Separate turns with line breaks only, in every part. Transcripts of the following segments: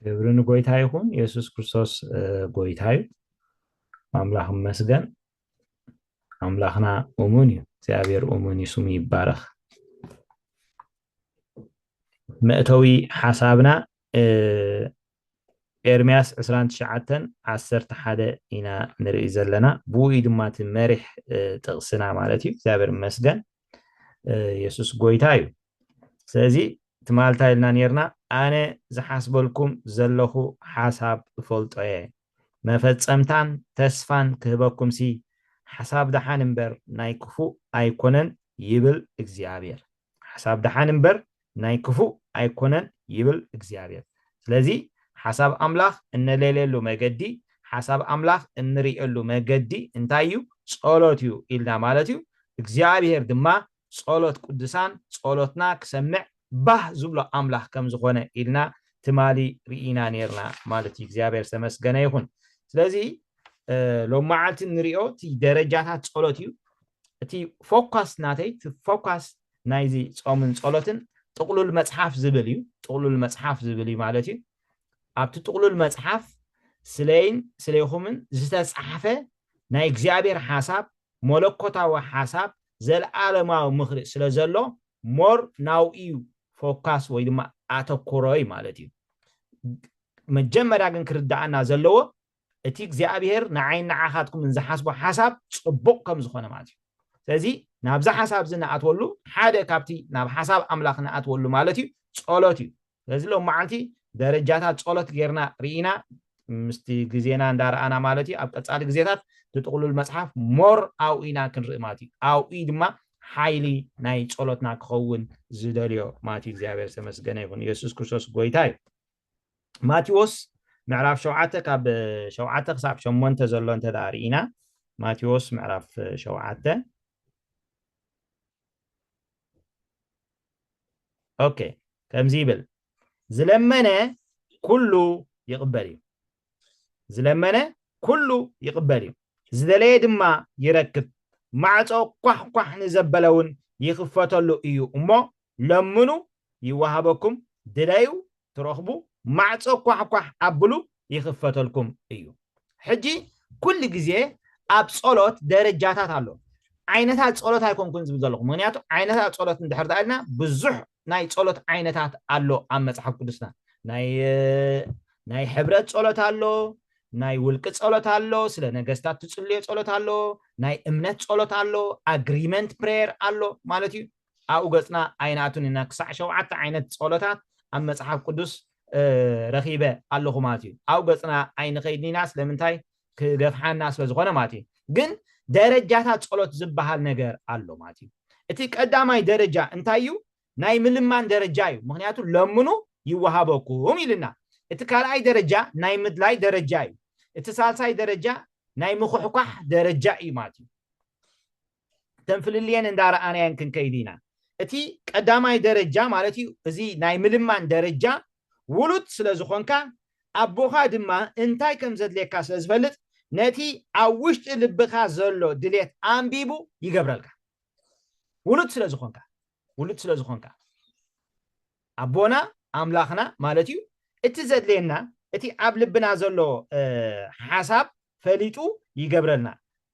ክብሪ ንጎይታ ይኹን የሱስ ክርስቶስ ጎይታ እዩ ኣምላኽ መስገን ኣምላኽና እሙን እዩ እግዚኣብሔር እሙን እዩ ስሙ ይባረኽ መእተዊ ሓሳብና ኤርምያስ ዕስራን ትሽዓተን ዓሰርተ ሓደ ኢና ንርኢ ዘለና ብኡ እዩ ድማ እቲ መሪሕ ጥቕስና ማለት እዩ እግዚኣብሔር ይመስገን የሱስ ጎይታ እዩ ስለዚ ትማልታ ኢልና ነርና ኣነ ዝሓስበልኩም ዘለኹ ሓሳብ እፈልጦ እየ መፈጸምታን ተስፋን ክህበኩም ሲ ሓሳብ ደሓን እምበር ናይ ክፉእ ኣይኮነን ይብል እግዚኣብሔር ሓሳብ ደሓን እምበር ናይ ክፉእ ኣይኮነን ይብል እግዚኣብሔር። ስለዚ ሓሳብ ኣምላኽ እነሌሌሉ መገዲ፣ ሓሳብ ኣምላኽ እንርእየሉ መገዲ እንታይ እዩ? ጸሎት እዩ ኢልና ማለት እዩ። እግዚኣብሔር ድማ ጸሎት ቅዱሳን ጸሎትና ክሰምዕ ባህ ዝብሎ ኣምላኽ ከም ዝኾነ ኢልና ትማሊ ርኢና ኔርና ማለት እዩ። እግዚኣብሔር ዝተመስገነ ይኹን። ስለዚ ሎሚ መዓልቲ እንሪኦ እቲ ደረጃታት ጸሎት እዩ። እቲ ፎካስ ናተይ እቲ ፎካስ ናይዚ ጾምን ጸሎትን ጥቅሉል መጽሓፍ ዝብል እዩ ጥቅሉል መጽሓፍ ዝብል እዩ ማለት እዩ ኣብቲ ጥቅሉል መጽሓፍ ስለይን ስለይኹምን ዝተጻሕፈ ናይ እግዚኣብሔር ሓሳብ መለኮታዊ ሓሳብ ዘለዓለማዊ ምኽሪ ስለ ዘሎ ሞር ናው እዩ ፎካስ ወይ ድማ ኣተኩሮ እዩ ማለት እዩ መጀመርያ ግን ክርዳኣና ዘለዎ እቲ እግዚኣብሄር ንዓይን ንዓኻትኩምን ዝሓስቦ ሓሳብ ጽቡቕ ከም ዝኾነ ማለት እዩ። ስለዚ ናብዚ ሓሳብ እዚ ንኣትወሉ ሓደ ካብቲ ናብ ሓሳብ ኣምላኽ ንኣትወሉ ማለት እዩ ጸሎት እዩ። ስለዚ ሎም መዓልቲ ደረጃታት ጸሎት ጌርና ርኢና ምስቲ ግዜና እንዳረኣና ማለት እዩ ኣብ ቀጻሊ ግዜታት እቲ ጥቕሉል መጽሓፍ ሞር ኣብኡ ኢና ክንርኢ ማለት እዩ። ኣብኡ እዩ ድማ ሓይሊ ናይ ጸሎትና ክኸውን ዝደልዮ ማለት እዩ። እግዚኣብሄር ዝተመስገነ ይኹን። ኢየሱስ ክርስቶስ ጎይታ እዩ። ማቴዎስ ምዕራፍ ሸውዓተ ካብ ሸውዓተ ክሳብ ሸሞንተ ዘሎ እንተ ደኣ ርኢና ማቴዎስ ምዕራፍ ሸውዓተ ኦኬ ከምዚ ይብል ዝለመነ ኩሉ ይቕበል እዩ ዝለመነ ኩሉ ይቕበል እዩ ዝደለየ ድማ ይረክብ ማዕጾ ኳሕኳሕ ንዘበለ እውን ይኽፈተሉ እዩ እሞ ለምኑ ይወሃበኩም፣ ድለዩ ትረኽቡ፣ ማዕጾ ኳሕኳሕ ኣብሉ ይኽፈተልኩም እዩ። ሕጂ ኩሉ ግዜ ኣብ ጸሎት ደረጃታት ኣሎ። ዓይነታት ጸሎት ኣይኮንኩን ዝብል ዘለኹ፣ ምክንያቱ ዓይነታት ጸሎት እንድሕር ደኣ ኢልና ብዙሕ ናይ ጸሎት ዓይነታት ኣሎ ኣብ መጽሓፍ ቅዱስና። ናይ ናይ ሕብረት ጸሎት ኣሎ፣ ናይ ውልቂ ጸሎት ኣሎ፣ ስለ ነገስታት ትጽልዮ ጸሎት ኣሎ፣ ናይ እምነት ጸሎት ኣሎ፣ ኣግሪመንት ፕሬየር ኣሎ ማለት እዩ። ኣብኡ ገጽና ኣይንኣቱን ኢና ክሳዕ ሸውዓተ ዓይነት ጸሎታት ኣብ መጽሓፍ ቅዱስ ረኺበ ኣለኹ ማለት እዩ ኣብኡ ገጽና ኣይንኸይድን ኢና ስለምንታይ ክገፍሓና ስለ ዝኾነ ማለት እዩ ግን ደረጃታት ጸሎት ዝበሃል ነገር ኣሎ ማለት እዩ እቲ ቀዳማይ ደረጃ እንታይ እዩ ናይ ምልማን ደረጃ እዩ ምክንያቱ ለምኑ ይወሃበኩም ኢልና እቲ ካልኣይ ደረጃ ናይ ምድላይ ደረጃ እዩ እቲ ሳልሳይ ደረጃ ናይ ምኩሕኳሕ ደረጃ እዩ ማለት እዩ እተን ፍልልየን እንዳረኣናየን ክንከይድ ኢና። እቲ ቀዳማይ ደረጃ ማለት እዩ እዚ ናይ ምልማን ደረጃ ውሉድ ስለ ዝኾንካ ኣቦኻ ድማ እንታይ ከም ዘድልየካ ስለ ዝፈልጥ ነቲ ኣብ ውሽጢ ልብኻ ዘሎ ድሌት ኣንቢቡ ይገብረልካ። ውሉድ ስለ ዝኾንካ ውሉድ ስለ ዝኾንካ። ኣቦና ኣምላኽና ማለት እዩ እቲ ዘድልየና እቲ ኣብ ልብና ዘሎ ሓሳብ ፈሊጡ ይገብረልና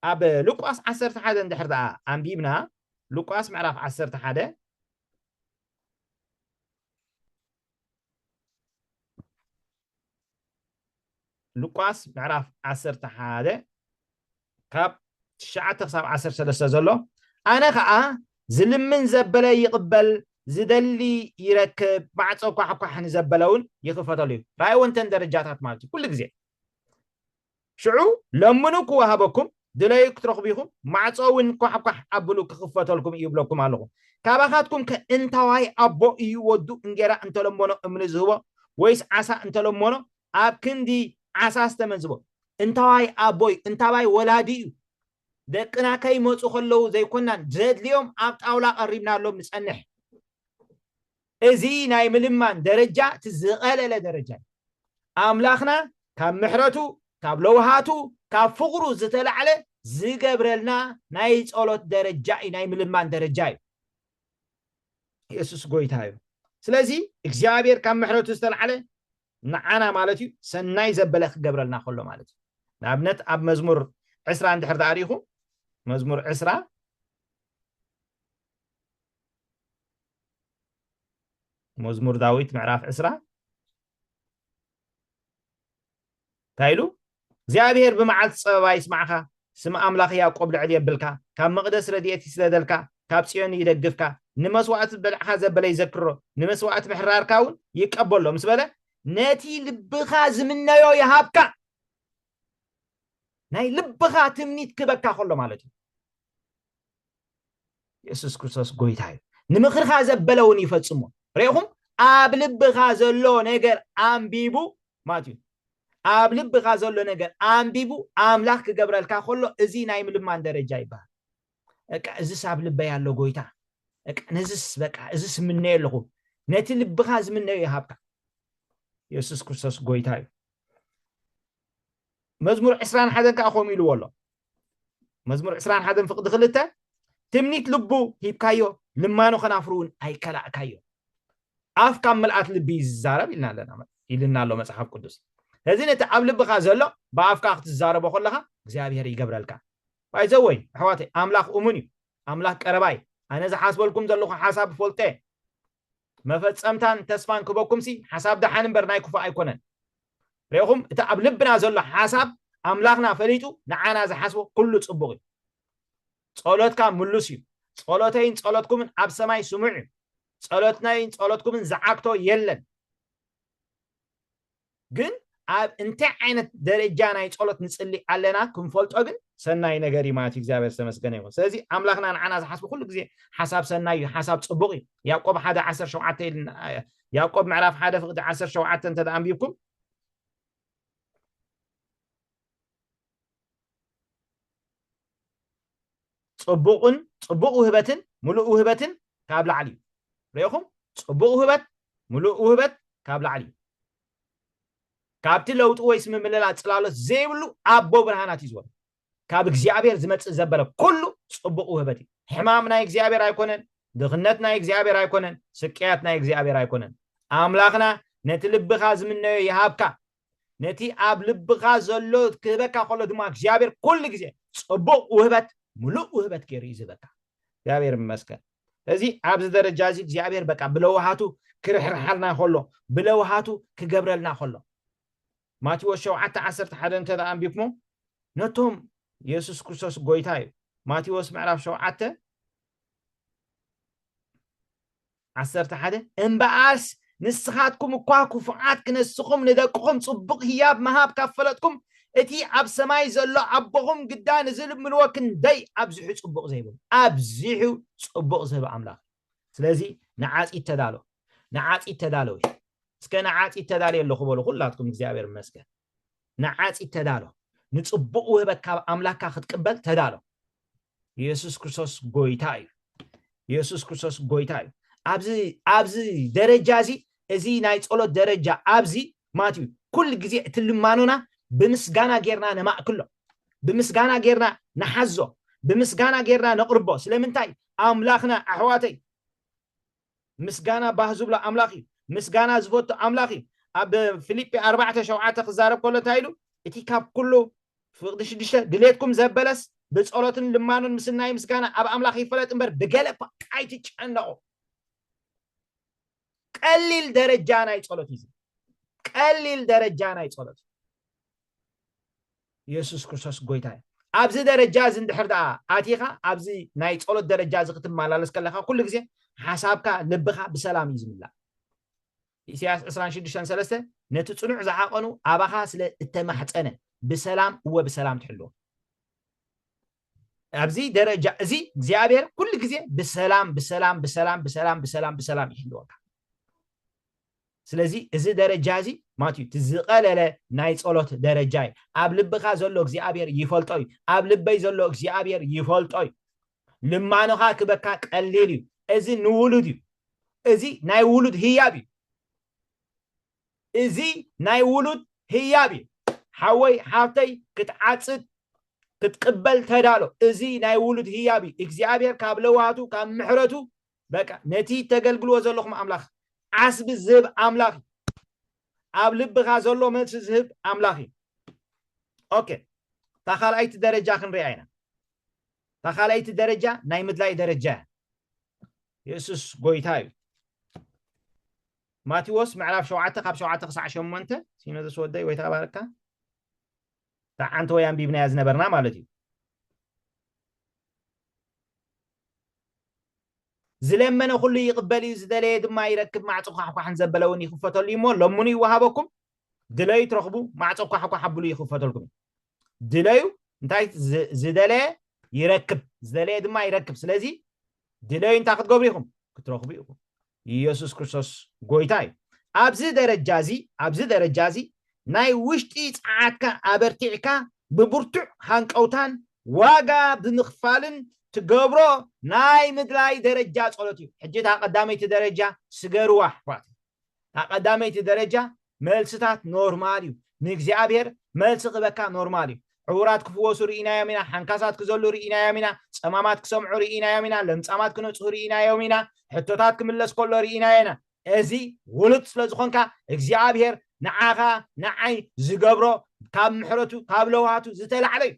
ኣብ ሉቃስ ዓሰርተ ሓደ እንድሕር ደኣ ኣንቢብና ሉቃስ ምዕራፍ ዓሰርተ ሓደ ሉቃስ ምዕራፍ ዓሰርተ ሓደ ካብ ትሽዓተ ክሳብ ዓሰርተ ሰለስተ ዘሎ ኣነ ከዓ ዝልምን ዘበለ ይቕበል ዝደሊ ይረክብ ማዕፆ ኳሕኳሕ ንዘበለውን ይኽፈተሉ እዩ ራእይ ወንተን ደረጃታት ማለት እዩ ኩሉ ግዜ ሽዑ ለምኑ ክወሃበኩም፣ ድለዩ ክትረኽቡ ኢኹም፣ ማዕጾ እውን ኳሕኳሕ ኣብሉ ክኽፈተልኩም እዩ እብለኩም ኣለኹ። ካባኻትኩም ከ እንታዋይ ኣቦ እዩ ወዱ እንጌራ እንተ ለመኖ እምኒ ዝህቦ? ወይስ ዓሳ እንተ ለመኖ ኣብ ክንዲ ዓሳስ ተመን ዝህቦ? እንታዋይ ኣቦ እዩ፣ እንታባይ ወላዲ እዩ፣ ደቅና ከይመጹ ከለዉ ዘይኮናን ዘድልዮም ኣብ ጣውላ ቀሪብናሎም ንጸንሕ? እዚ ናይ ምልማን ደረጃ እቲ ዝቐለለ ደረጃ እዩ። ኣምላኽና ካብ ምሕረቱ፣ ካብ ለውሃቱ፣ ካብ ፍቕሩ ዝተላዕለ ዝገብረልና ናይ ጸሎት ደረጃ እዩ፣ ናይ ምልማን ደረጃ እዩ። የሱስ ጎይታ እዩ። ስለዚ እግዚኣብሔር ካብ ምሕረቱ ዝተላዕለ ንዓና ማለት እዩ ሰናይ ዘበለ ክገብረልና ከሎ ማለት እዩ። ንኣብነት ኣብ መዝሙር ዕስራ እንድሕር ተኣሪኹ መዝሙር ዕስራ መዝሙር ዳዊት ምዕራፍ ዕስራ እንታይ ኢሉ እግዚኣብሄር ብመዓልቲ ፀበባ ይስማዕኻ ስም ኣምላኽ ያዕቆብ ልዕል የብልካ ካብ መቕደስ ረድኤት ይስደደልካ ካብ ፅዮን ይደግፍካ ንመስዋእቲ በልዕኻ ዘበለ ይዘክሮ ንመስዋእቲ ምሕራርካ እውን ይቀበሎ ምስ በለ ነቲ ልብኻ ዝምነዮ ይሃብካ ናይ ልብኻ ትምኒት ክበካ ከሎ ማለት እዩ የሱስ ክርስቶስ ጎይታ እዩ ንምክርካ ዘበለ እውን ይፈጽሞ ርኢኹም ኣብ ልብኻ ዘሎ ነገር ኣንቢቡ ማትዩ ኣብ ልብኻ ዘሎ ነገር ኣንቢቡ ኣምላኽ ክገብረልካ ከሎ እዚ ናይ ምልማን ደረጃ ይበሃል በቃ እዚስ ኣብ ልበይ ኣሎ ጎይታ በቃ ነዚስ በቃ እዚስ ምነየ ኣለኹ ነቲ ልብኻ ዝምነዩ ይሃብካ የሱስ ክርስቶስ ጎይታ እዩ መዝሙር ዕስራን ሓደን ከኣ ከምኡ ኢልዎ ኣሎ መዝሙር ዕስራን ሓደን ፍቕዲ ክልተ ትምኒት ልቡ ሂብካዮ ልማኖ ከናፍሩ እውን ኣይከላእካዮ ኣፍ ካብ ምልኣት ልቢ እዩ ዝዛረብ ኢልና ኣለና ኢልና ኣሎ መጽሓፍ ቅዱስ ስለዚ ነቲ ኣብ ልብኻ ዘሎ ብኣፍካ ክትዛረቦ ከለኻ እግዚኣብሄር ይገብረልካ ባይዘወይ ኣሕዋተይ ኣምላኽ እሙን እዩ ኣምላኽ ቀረባ እዩ ኣነ ዝሓስበልኩም ዘለኹ ሓሳብ ፈልጠ መፈጸምታን ተስፋን ክህበኩምሲ ሓሳብ ደሓን እምበር ናይ ክፉእ ኣይኮነን። ርኢኹም እቲ ኣብ ልብና ዘሎ ሓሳብ ኣምላኽና ፈሊጡ ንዓና ዝሓስቦ ኩሉ ጽቡቕ እዩ። ጸሎትካ ምሉስ እዩ። ጸሎተይን ጸሎትኩምን ኣብ ሰማይ ስሙዕ እዩ። ጸሎትናይን ጸሎትኩምን ዝዓግቶ የለን። ግን ኣብ እንታይ ዓይነት ደረጃ ናይ ጸሎት ንጽሊ ኣለና ክንፈልጦ ግን ሰናይ ነገር እዩ ማለት እዩ እግዚኣብሔር ዝተመስገነ ይኹን ስለዚ ኣምላኽና ንዓና ዝሓስቡ ኩሉ ግዜ ሓሳብ ሰናይ እዩ ሓሳብ ጽቡቕ እዩ ያዕቆብ ሓደ ዓሰርተ ሸውዓተ ያዕቆብ ምዕራፍ ሓደ ፍቕዲ ዓሰርተ ሸውዓተ እንተ ኣንቢብኩም ጽቡቕን ጽቡቕ ውህበትን ምሉእ ውህበትን ካብ ላዕሊ እዩ። ርኤኹም? ጽቡቕ ውህበት፣ ምሉእ ውህበት ካብ ላዕሊ እዩ። ካብቲ ለውጢ ወይስ ምምልላእ ጽላሎት ዘይብሉ ኣቦ ብርሃናት እዩ ዝወርድ። ካብ እግዚኣብሔር ዝመጽእ ዘበለ ኩሉ ጽቡቕ ውህበት እዩ። ሕማም ናይ እግዚኣብሔር ኣይኮነን፣ ድኽነት ናይ እግዚኣብሔር ኣይኮነን፣ ስቅያት ናይ እግዚኣብሔር ኣይኮነን። ኣምላኽና ነቲ ልብኻ ዝምነዮ ይሃብካ፣ ነቲ ኣብ ልብኻ ዘሎ ክህበካ ከሎ ድማ እግዚኣብሔር ኩሉ ግዜ ጽቡቅ ውህበት ምሉእ ውህበት ገይሩ እዩ ዝህበካ እግዚኣብሔር ይመስገን እዚ ኣብዚ ደረጃ እዚ እግዚኣብሔር በቃ ብለውሃቱ ክርሕርሓልና ከሎ ብለውሃቱ ክገብረልና ከሎ ማቴዎስ ሸውዓተ ዓሰርተ ሓደ እንተ ኣንቢብሞ ነቶም የሱስ ክርስቶስ ጎይታ እዩ ማቴዎስ ምዕራፍ ሸውዓተ ዓሰርተ ሓደ እምበኣርስ ንስኻትኩም እኳ ክፉዓት ክነስኹም ንደቅኹም ጽቡቕ ህያብ ምሃብ ካብ ፈለጥኩም እቲ ኣብ ሰማይ ዘሎ ኣቦኹም ግዳ ንዝልምንዎ ክንደይ ኣብዚሑ ጽቡቕ ዘይብሉ ኣብዚሑ ጽቡቕ ዝህብ ኣምላኽ እዩ ስለዚ ንዓጺት ተዳሎ ንዓጺት ተዳሎ እዩ እስከ ንዓጺት ተዳልየ ኣለኹ በሉ ኩላትኩም እግዚኣብሔር ይመስገን ንዓጺት ተዳሎ ንጽቡቕ ውህበት ካብ ኣምላክካ ክትቅበል ተዳሎ የሱስ ክርስቶስ ጎይታ እዩ የሱስ ክርስቶስ ጎይታ እዩ ኣብዚ ኣብዚ ደረጃ እዚ እዚ ናይ ጸሎት ደረጃ ኣብዚ ማለት እዩ ኩሉ ግዜ እቲ ልማኖና ብምስጋና ጌርና ነማእክሎ ብምስጋና ጌርና ንሓዞ ብምስጋና ጌርና ነቕርቦ ስለምንታይ ኣምላኽና ኣሕዋተይ ምስጋና ባህ ዝብሎ ኣምላኽ እዩ። ምስጋና ዝፈቱ ኣምላኽ እዩ። ኣብ ፊልጲ ኣርባዕተ ሸውዓተ ክዛረብ ከሎ እንታይ ኢሉ? እቲ ካብ ኩሉ ፍቕዲ ሽዱሽተ ድሌትኩም ዘበለስ ብጸሎትን ልማኑን ምስናይ ምስጋና ኣብ ኣምላኽ ይፈለጥ እምበር ብገለ እኳ ኣይትጨነቑ። ቀሊል ደረጃ ናይ ጸሎት እዩ። ቀሊል ደረጃ ናይ ጸሎት የሱስ ክርስቶስ ጎይታ እዩ። ኣብዚ ደረጃ እዚ እንድሕር ደኣ ኣቲኻ ኣብዚ ናይ ጸሎት ደረጃ እዚ ክትመላለስ ከለኻ ኩሉ ግዜ ሓሳብካ ልብኻ ብሰላም እዩ ዝምላእ። ኢሳያስ 26:3 ነቲ ጽኑዕ ዝዓቐኑ ኣባኻ ስለ እተማሕጸነ ብሰላም እወ ብሰላም ትሕልዎ። ኣብዚ ደረጃ እዚ እግዚኣብሔር ኩሉ ግዜ ብሰላም ብሰላም ብሰላም ብሰላም ብሰላም ብሰላም ይሕልወካ ስለዚ እዚ ደረጃ እዚ ማለት እዩ እቲ ዝቐለለ ናይ ጸሎት ደረጃ እዩ ኣብ ልብኻ ዘሎ እግዚኣብሔር ይፈልጦ እዩ ኣብ ልበይ ዘሎ እግዚኣብሔር ይፈልጦ እዩ ልማኖኻ ክበካ ቀሊል እዩ እዚ ንውሉድ እዩ እዚ ናይ ውሉድ ህያብ እዩ እዚ ናይ ውሉድ ህያብ እዩ ሓወይ ሓብተይ ክትዓጽድ ክትቅበል ተዳሎ እዚ ናይ ውሉድ ህያብ እዩ እግዚኣብሔር ካብ ለዋሃቱ ካብ ምሕረቱ በቃ ነቲ ተገልግልዎ ዘለኹም ኣምላኽ ዓስቢ ዝህብ ኣምላኽ እዩ ኣብ ልብኻ ዘሎ መልሲ ዝህብ ኣምላኽ እዩ ኦኬ እታ ካልኣይቲ ደረጃ ክንሪኣ ኢና እታ ካልኣይቲ ደረጃ ናይ ምድላይ ደረጃ እያ የሱስ ጎይታ እዩ ማቴዎስ ምዕራፍ ሸውዓተ ካብ ሸውዓተ ክሳዕ ሸሞንተ ሲኖዶስ ወደይ ወይ ተባረካ ተዓንቲ ወይ ኣንቢብናያ ዝነበርና ማለት እዩ ዝለመነ ኩሉ ይቕበል እዩ ዝደለየ ድማ ይረክብ ማዕፆ ኳሕኳሕን ዘበለ እውን ይኽፈተሉ እዩ እሞ ለምኑ ይወሃበኩም ድለዩ ትረኽቡ ማዕፆ ኳሕኳሕ ኣብሉ ይኽፈተልኩም እዩ ድለዩ እንታይ ዝደለየ ይረክብ ዝደለየ ድማ ይረክብ ስለዚ ድለዩ እንታይ ክትገብሩ ኢኹም ክትረኽቡ ኢኹም ኢየሱስ ክርስቶስ ጎይታ እዩ ኣብዚ ደረጃ እዚ ኣብዚ ደረጃ እዚ ናይ ውሽጢ ፀዓትካ ኣበርቲዕካ ብብርቱዕ ሃንቀውታን ዋጋ ብምኽፋልን ትገብሮ ናይ ምድላይ ደረጃ ጸሎት እዩ ሕጂ እታ ቀዳመይቲ ደረጃ ስገርዋ ኣሕዋት እታ ቀዳመይቲ ደረጃ መልስታት ኖርማል እዩ ንእግዚኣብሔር መልሲ ክበካ ኖርማል እዩ ዕውራት ክፍወሱ ርኢናዮም ኢና ሓንካሳት ክዘሉ ርኢናዮም ኢና ጸማማት ክሰምዑ ርኢናዮም ኢና ለምጻማት ክነጽሁ ርኢናዮም ኢና ሕቶታት ክምለስ ከሎ ርኢናዮ ኢና እዚ ውሉድ ስለ ዝኾንካ እግዚኣብሔር ንዓኻ ንዓይ ዝገብሮ ካብ ምሕረቱ ካብ ለውሃቱ ዝተላዕለ እዩ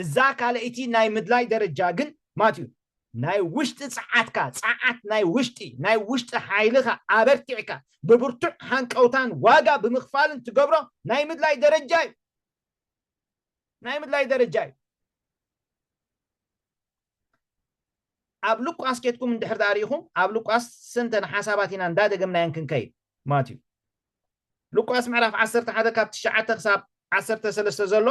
እዛ ካልኣይቲ ናይ ምድላይ ደረጃ ግን ማትዩ ናይ ውሽጢ ጸዓትካ ጸዓት ናይ ውሽጢ ናይ ውሽጢ ሓይልኻ ኣበርቲዕካ ብብርቱዕ ሃንቀውታን ዋጋ ብምኽፋልን ትገብሮ ናይ ምድላይ ደረጃ እዩ ናይ ምድላይ ደረጃ እዩ። ኣብ ሉቃስ ኬድኩም እንድሕር ደኣ ርኢኹም፣ ኣብ ሉቃስ ሰንተን ሓሳባት ኢና እንዳ ደገምናየን ክንከይድ። ማቲው። ሉቃስ ምዕራፍ ዓሰርተ ሓደ ካብ ትሽዓተ ክሳብ ዓሰርተ ሰለስተ ዘሎ፣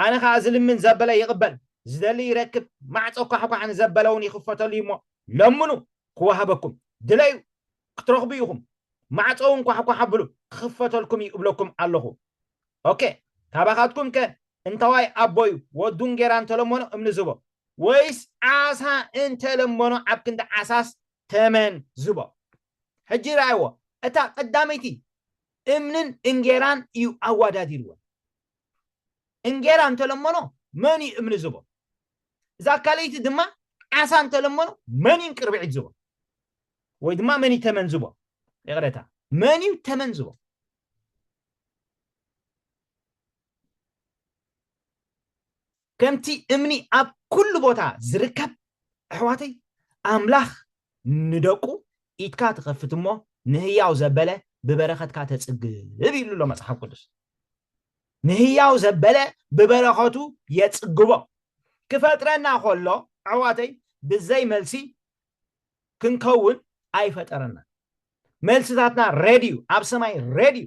ኣነ ኸኣ ዝልምን ዘበለ ይቕበል፣ ዝደሊ ይረክብ፣ ማዕጾ ኳሕኳሕ ንዘበለውን ይኽፈተሉ እዩ እሞ፣ ለምኑ ክወሃበኩም፣ ድለዩ ክትረኽቡ ኢኹም፣ ማዕጾውን ኳሕኳሕ ኣብሉ ክኽፈተልኩም እዩ እብለኩም ኣሎኹ። ኦኬ ካባካትኩም ከ እንታዋይ ኣቦዩ ወዱ እንጌራ እንተለመኖ እምኒ ዝቦ ወይስ ዓሳ እንተለመኖ ኣብ ክንዲ ዓሳስ ተመን ዝቦ ሕጂ ራኣይዎ እታ ቀዳመይቲ እምንን እንጌራን እዩ ኣዋዳዲርዎ እንጌራ እንተለመኖ መን እዩ እምኒ ዝቦ እዛ ካልይቲ ድማ ዓሳ እንተለመኖ መን እዩ ቅርብዒት ዝቦ ወይ ድማ መን እዩ ተመን ዝቦ ይቅረታ መን እዩ ተመን ዝቦ ከምቲ እምኒ ኣብ ኩሉ ቦታ ዝርከብ ኣሕዋተይ ኣምላኽ ንደቁ ኢድካ ትኸፍት እሞ ንህያው ዘበለ ብበረኸትካ ተጽግብ ይብሉ ኣሎ መጽሓፍ ቅዱስ ንህያው ዘበለ ብበረኸቱ የጽግቦ ክፈጥረና ከሎ ኣሕዋተይ ብዘይ መልሲ ክንከውን ኣይፈጠረና መልስታትና ሬድዩ ኣብ ሰማይ ሬድዩ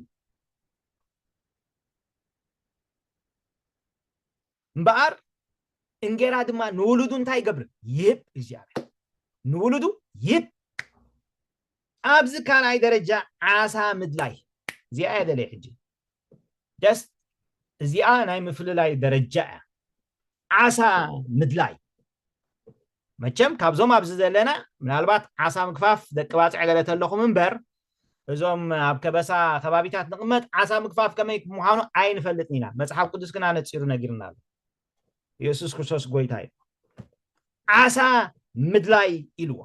እምበኣር እንጌራ ድማ ንውሉዱ እንታይ ይገብር ይህብ እግዚኣብሔር ንውሉዱ ይህብ ኣብዚ ካልኣይ ደረጃ ዓሳ ምድላይ እዚኣ የደለይ ሕጂ just እዚኣ ናይ ምፍልላይ ደረጃ እያ ዓሳ ምድላይ መቸም ካብዞም ኣብዚ ዘለና ምናልባት ዓሳ ምግፋፍ ደቂ ባፅዕ ገለ ተለኹም እምበር እዞም ኣብ ከበሳ ከባቢታት ንቕመጥ ዓሳ ምግፋፍ ከመይ ምዃኑ ኣይንፈልጥን ኢና መፅሓፍ ቅዱስ ግና ነፂሩ ነጊርና ኣሎ የሱስ ክርስቶስ ጎይታ እዩ ዓሳ ምድላይ ኢልዎ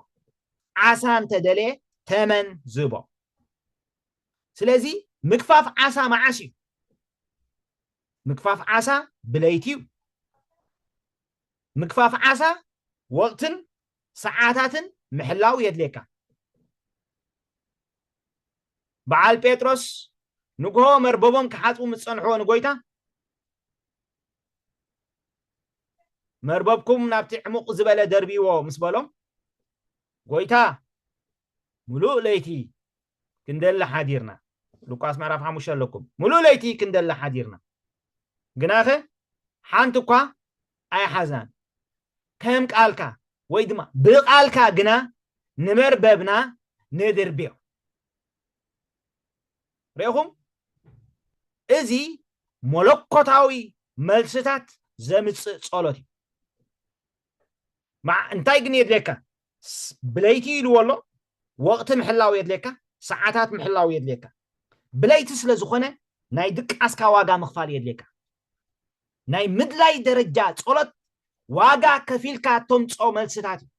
ዓሳ እንተደልየ ተመን ዝቦ ስለዚ ምግፋፍ ዓሳ መዓስ እዩ? ምግፋፍ ዓሳ ብለይቲ እዩ። ምግፋፍ ዓሳ ወቕትን ሰዓታትን ምሕላው የድልየካ። በዓል ጴጥሮስ ንግሆ መርበቦም ክሓጽቡ ምስ ጸንሕዎ ንጎይታ መርበብኩም ናብቲ ዕሙቕ ዝበለ ደርብይዎ ምስ በሎም ጎይታ ምሉእ ለይቲ ክንደሊ ሓዲርና ሉቃስ ምዕራፍ ሓሙሽተ ኣለኩም ሙሉእ ለይቲ ክንደሊ ሓዲርና ግናኸ ሓንቲ እኳ ኣይሓዝናን ከም ቃልካ ወይ ድማ ብቃልካ ግና ንመርበብና ነድርብዮ ርኹም እዚ መለኮታዊ መልስታት ዘምፅእ ጸሎት እዩ እንታይ ግን የድልየካ ብለይቲ ኢልዎ ኣሎ ወቕቲ ምሕላው የድልየካ ሰዓታት ምሕላው የድልየካ ብለይቲ ስለ ዝኾነ ናይ ድቃስካ ዋጋ ምኽፋል የድልየካ ናይ ምድላይ ደረጃ ጸሎት ዋጋ ከፊልካ ተምጾ መልስታት እዩ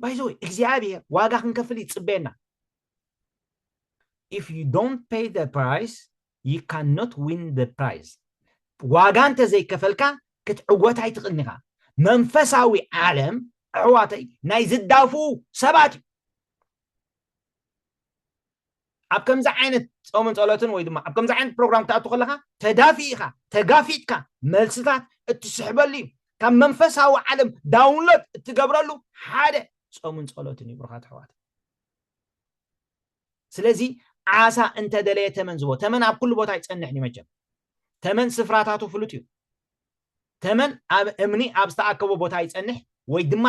ባይዘወይ እግዚኣብሔር ዋጋ ክንከፍል ይጽበየና ኢፍ ዩ ዶንት ፔይ ደ ፕራይስ you can not win the prize ዋጋ እንተዘይከፈልካ ክትዕወት ኣይትኽእልን ኢኻ መንፈሳዊ ዓለም ኣሕዋተይ ናይ ዝዳፍኡ ሰባት እዩ ኣብ ከምዚ ዓይነት ፆምን ፀሎትን ወይ ድማ ኣብ ከምዚ ዓይነት ፕሮግራም ክትኣቱ ከለካ ተዳፊእኻ ተጋፊጥካ መልስታት እትስሕበሉ እዩ ካብ መንፈሳዊ ዓለም ዳውንሎድ እትገብረሉ ሓደ ፆምን ፀሎትን እዩ ብሩኻት ኣሕዋት ስለዚ ዓሳ እንተ ደለየ ተመን ዝቦ። ተመን ኣብ ኩሉ ቦታ ኣይጸንሕን እዩ መቸም። ተመን ስፍራታቱ ፍሉጥ እዩ። ተመን ኣብ እምኒ ኣብ ዝተኣከቦ ቦታ ይጸንሕ ወይ ድማ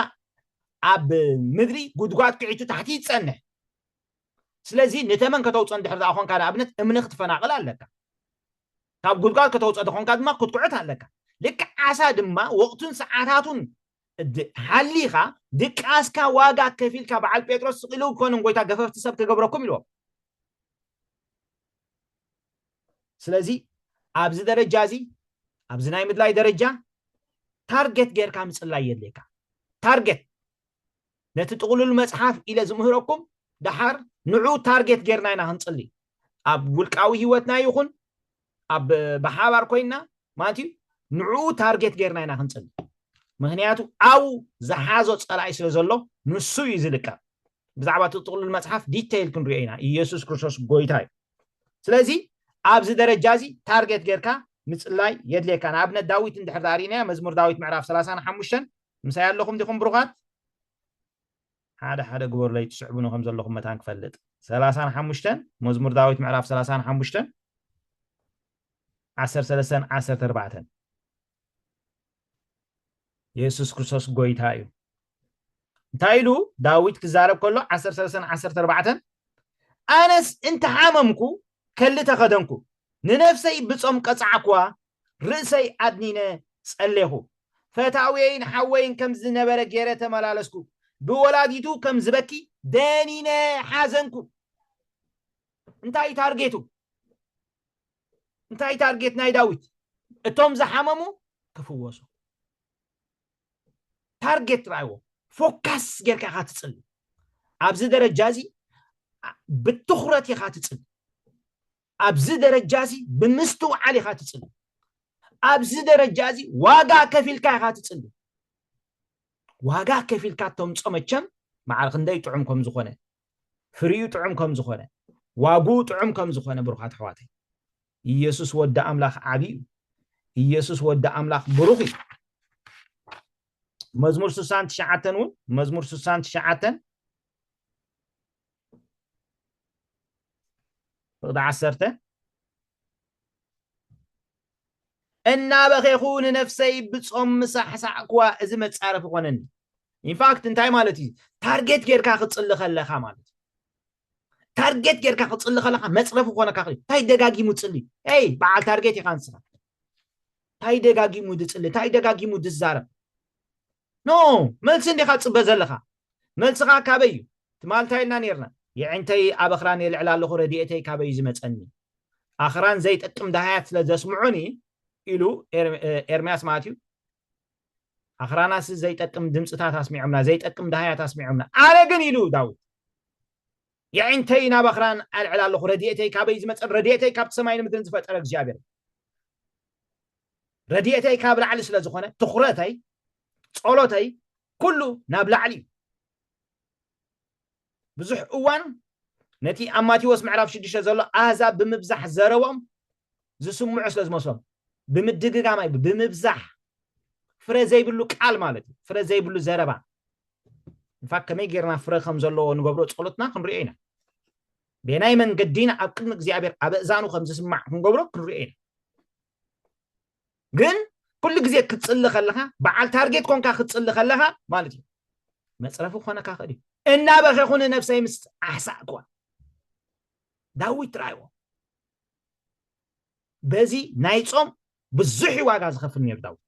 ኣብ ምድሪ ጉድጓድ ኪዒቱ ታሕቲ ይጸንሕ። ስለዚ ንተመን ከተውጽኦ እንድሕር ደኣ ኾንካ ንኣብነት እምኒ ክትፈናቕል ኣለካ። ካብ ጉድጓድ ከተውጽኦ ተኾንካ ድማ ክትኩዕት ኣለካ። ልክዕ ዓሳ ድማ ወቕቱን ሰዓታቱን ሓሊኻ ድቃስካ ዋጋ ከፊልካ በዓል ጴጥሮስ ስቅ ኢሉ ኮንን ጎይታ ገፈፍቲ ሰብ ክገብረኩም ኢልዎም ስለዚ ኣብዚ ደረጃ እዚ ኣብዚ ናይ ምድላይ ደረጃ ታርጌት ጌርካ ምጽላይ የድልየካ ታርጌት ነቲ ጥቕሉል መጽሓፍ ኢለ ዝምህረኩም ደሓር ንዑ ታርጌት ጌርና ኢና ክንጽሊ ኣብ ውልቃዊ ህይወትና ይኹን ኣብ ብሓባር ኮይና ማለት እዩ ንዕኡ ታርጌት ጌርና ኢና ክንጽሊ ምክንያቱ ኣብኡ ዝሓዞ ጸላኢ ስለ ዘሎ ንሱ እዩ ዝልቀቕ ብዛዕባ እቲ ጥቕሉል መጽሓፍ ዲተይል ክንሪኦ ኢና ኢየሱስ ክርስቶስ ጎይታ እዩ ስለዚ ኣብዚ ደረጃ እዚ ታርጌት ጌርካ ምጽላይ የድልየካ ንኣብነት ዳዊት እንድሕር ርኢናያ መዝሙር ዳዊት ምዕራፍ 35 ምሳይ ኣለኹም ዲኹም ብሩኻት ሓደ ሓደ ግበሩለይ ትስዕቡኒ ከም ዘለኹም መታን ክፈልጥ። ሰላሳን ሓሙሽተን፣ መዝሙር ዳዊት ምዕራፍ ሰላሳን ሓሙሽተን ዓሰርተ ሰለስተን ዓሰርተ ኣርባዕተን የሱስ ክርስቶስ ጎይታ እዩ። እንታይ ኢሉ ዳዊት ክዛረብ ከሎ ዓሰርተ ሰለስተን ዓሰርተ ኣርባዕተን ኣነስ እንተሓመምኩ ከሊ ተኸደንኩ ንነፍሰይ ብጾም ቀጻዕኩዋ ርእሰይ ኣድኒነ ጸሌኹ። ፈታውየይን ሓወይን ከም ዝነበረ ገይረ ተመላለስኩ። ብወላዲቱ ከም ዝበኪ ደኒነ ሓዘንኩ። እንታይ እዩ ታርጌቱ? እንታይ ታርጌት ናይ ዳዊት? እቶም ዝሓመሙ ክፍወሱ ታርጌት ራይዎ ፎካስ ጌርካ ኢኻ ትጽሊ ኣብዚ ደረጃ እዚ ብትኹረት ኢኻ ትጽሊ ኣብዚ ደረጃ እዚ ብምስትውዓል ኢኻ ትጽሊ። ኣብዚ ደረጃ እዚ ዋጋ ከፊልካ ኢኻ ትጽሊ። ዋጋ ከፊልካ ተምጾ መቸም መዓር ክንደይ ጥዑም ከም ዝኾነ ፍሪኡ ጥዑም ከም ዝኾነ ዋግኡ ጥዑም ከም ዝኾነ ብሩኻት ኣሕዋተይ ኢየሱስ ወዲ ኣምላኽ ዓቢ እዩ ኢየሱስ ወዲ ኣምላኽ ብሩኽ እዩ መዝሙር 69 እውን መዝሙር 69 ፍቕዲ ዓሰርተ እናበኼኹ ንነፍሰይ ብጾም ምስ ኣሕሳዕክዋ እዚ መጻረፊ ኮነኒ ኢንፋክት እንታይ ማለት እዩ ታርጌት ጌርካ ክጽሊ ከለኻ ማለት እዩ ታርጌት ጌርካ ክጽሊ ከለኻ መጽረፊ ኮነካ ክል እንታይ ደጋጊሙ ጽሊ ይ በዓል ታርጌት ኢኻ ንስኻ እንታይ ደጋጊሙ ድጽሊ እንታይ ደጋጊሙ ድዛረብ ን መልሲ እንዲኻ ትጽበ ዘለኻ መልስኻ ካበይ እዩ ትማልታይ ኢልና ኔርና የዒንተይ ኣብ ኣኽራን የልዕል ኣለኹ ረዲኤተይ ካበይ እዩ ዝመጸኒ ኣኽራን ዘይጠቅም ደሃያት ስለ ዘስምዑኒ ኢሉ ኤርምያስ ማለት እዩ ኣኽራናስ ዘይጠቅም ድምጽታት ኣስሚዖምና ዘይጠቅም ደሃያት ኣስሚዖምና ኣነ ግን ኢሉ ዳዊት የዒንተይ ናብ ኣኽራን ኣልዕል ኣለኹ፣ ረድኤተይ ካበይ ዝመጸን ረድኤተይ ካብቲ ሰማይን ምድርን ዝፈጠረ እግዚኣብሔር እዩ። ረድኤተይ ካብ ላዕሊ ስለ ዝኾነ ትኹረተይ ጸሎተይ ኩሉ ናብ ላዕሊ እዩ። ብዙሕ እዋን ነቲ ኣብ ማቴዎስ ምዕራፍ ሽዱሽተ ዘሎ ኣህዛብ ብምብዛሕ ዘረቦም ዝስምዑ ስለ ዝመስሎም ብምድግጋም ኣይ ብምብዛሕ ፍረ ዘይብሉ ቃል ማለት እዩ ፍረ ዘይብሉ ዘረባ ንፋት ከመይ ጌርና ፍረ ከም ዘለዎ ንገብሮ ጸሎትና ክንሪኦ ኢና ቤናይ መንገዲ ኢና ኣብ ቅድሚ እግዚኣብሔር ኣብ እእዛኑ ከም ዝስማዕ ክንገብሮ ክንሪኦ ኢና ግን ኩሉ ግዜ ክትፅሊ ከለካ በዓል ታርጌት ኮንካ ክትፅሊ ከለካ ማለት እዩ መፅረፊ ክኾነካ ክእል እዩ እናበኺኹ ንነብሰይ ምስ ኣሕሳእክዋ ዳዊት ራይዎ በዚ ናይ ጾም ብዙሕ እዩ ዋጋ ዝኸፍል ነይሩ ዳዊት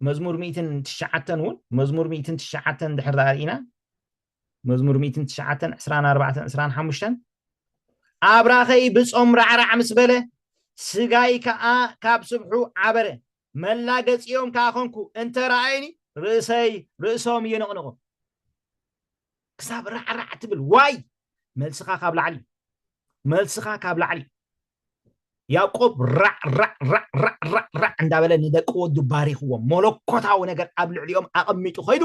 መዝሙር ሚእትን ትሽዓተን እውን መዝሙር ሚእትን ትሽዓተን ድሕር ርእና መዝሙር ሚእትን ትሽዓተን ዕስራን ኣርባዕተን ዕስራን ሓሙሽተን ኣብራኸይ ብጾም ራዕራዕ ምስ በለ ስጋይ ከዓ ካብ ስብሑ ዓበረ መላገፂኦም ከዓ ኾንኩ እንተ ረኣዩኒ ርእሰይ ርእሶም እየንቕንቑ ክሳብ ራዕራዕ ትብል ዋይ መልስኻ ካብ ላዕሊ መልስኻ ካብ ላዕሊ ያዕቆብ ራዕራዕራዕራዕራዕ እንዳበለ ንደቂ ወዱ ባሪኽዎም መለኮታዊ ነገር ኣብ ልዕሊኦም ኣቐሚጡ ከይዱ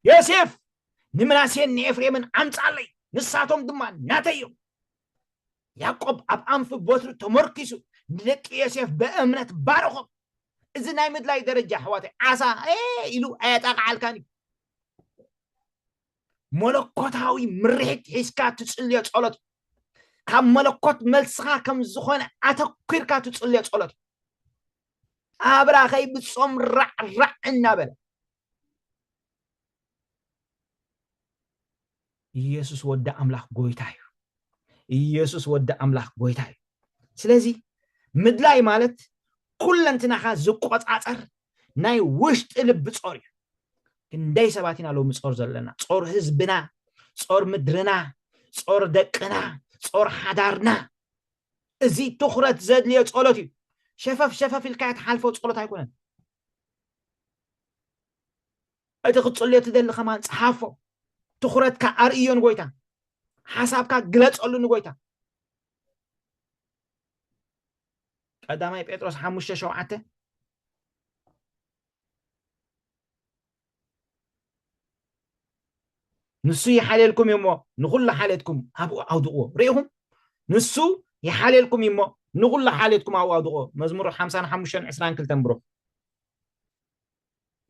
ዮሴፍ ንምናሴን ንኤፍሬምን ኣምፃለይ ንሳቶም ድማ ናተዮም ያዕቆብ ኣብ ኣንፊ ቦትሪ ተመርኪሱ ንደቂ ዮሴፍ ብእምነት ባረኾም እዚ ናይ ምድላይ ደረጃ ኣሕዋተይ ዓሳ ኢሉ ኣየጣቕዓልካን እዩ መለኮታዊ ምርሒት ሒዝካ ትጽልዮ ጸሎት እዩ ካብ መለኮት መልስኻ ከም ዝኾነ ኣተኲርካ ትጽልዮ ጸሎት እዩ ኣብራኸይ ብጾም ራዕራዕ እናበለ ኢየሱስ ወዲ ኣምላኽ ጎይታ እዩ ኢየሱስ ወዲ ኣምላኽ ጎይታ እዩ ስለዚ ምድላይ ማለት ኩለንትናኻ ዝቆጻጸር ናይ ውሽጢ ልቢ ጾር እዩ ክንደይ ሰባት ኢና ሎሚ ጾር ዘለና ጾር ህዝብና ጾር ምድርና ጾር ደቅና ጾር ሓዳርና እዚ ትኹረት ዘድልዮ ጸሎት እዩ ሸፈፍ ሸፈፍ ኢልካ ትሓልፎ ጸሎት ኣይኮነን እቲ ክትጽልዮ ትደሊ ከማን ጽሓፎ ትኹረትካ ኣርእዮ ንጎይታ ሓሳብካ ግለጸሉ ንጎይታ ቀዳማይ ጴጥሮስ ሓሙሽተ ሸውዓተ ንሱ ይሓልየልኩም እዩ እሞ ንኹሉ ሓልየትኩም ኣብኡ ኣውድቕዎ ርኢኹም ንሱ ይሓልየልኩም እዩ እሞ ንኹሉ ሓልየትኩም ኣብኡ ኣውድቕዎ መዝሙር ሓምሳን ሓሙሽተን ዕስራን ክልተን ብሩኽ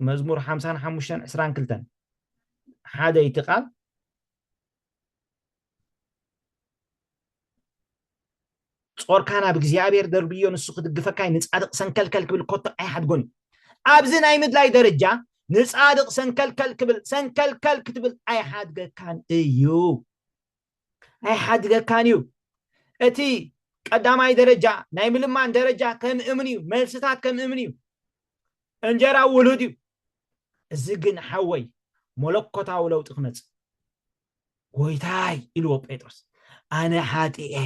መዝሙር ሓምሳን ሓሙሽተን ዕስራን ክልተን ሓደ እቲ ቃል ጾርካ ናብ እግዚኣብሔር ደርብዮ ንሱ ክድግፈካይ ንጻድቅ ሰንከልከል ክብል ኮቶ ኣይሓድጎን እዩ ኣብዚ ናይ ምድላይ ደረጃ ንጻድቅ ሰንከልከል ክብል ሰንከልከል ክትብል ኣይሓድገካን እዩ ኣይሓድገካን እዩ። እቲ ቀዳማይ ደረጃ ናይ ምልማን ደረጃ ከም እምኒ እዩ፣ መልስታት ከም እምኒ እዩ፣ እንጀራ ውሉድ እዩ። እዚ ግን ሓወይ መለኮታዊ ለውጢ ክመጽእ ጎይታይ ኢልዎ ጴጥሮስ ኣነ ሓጢኤ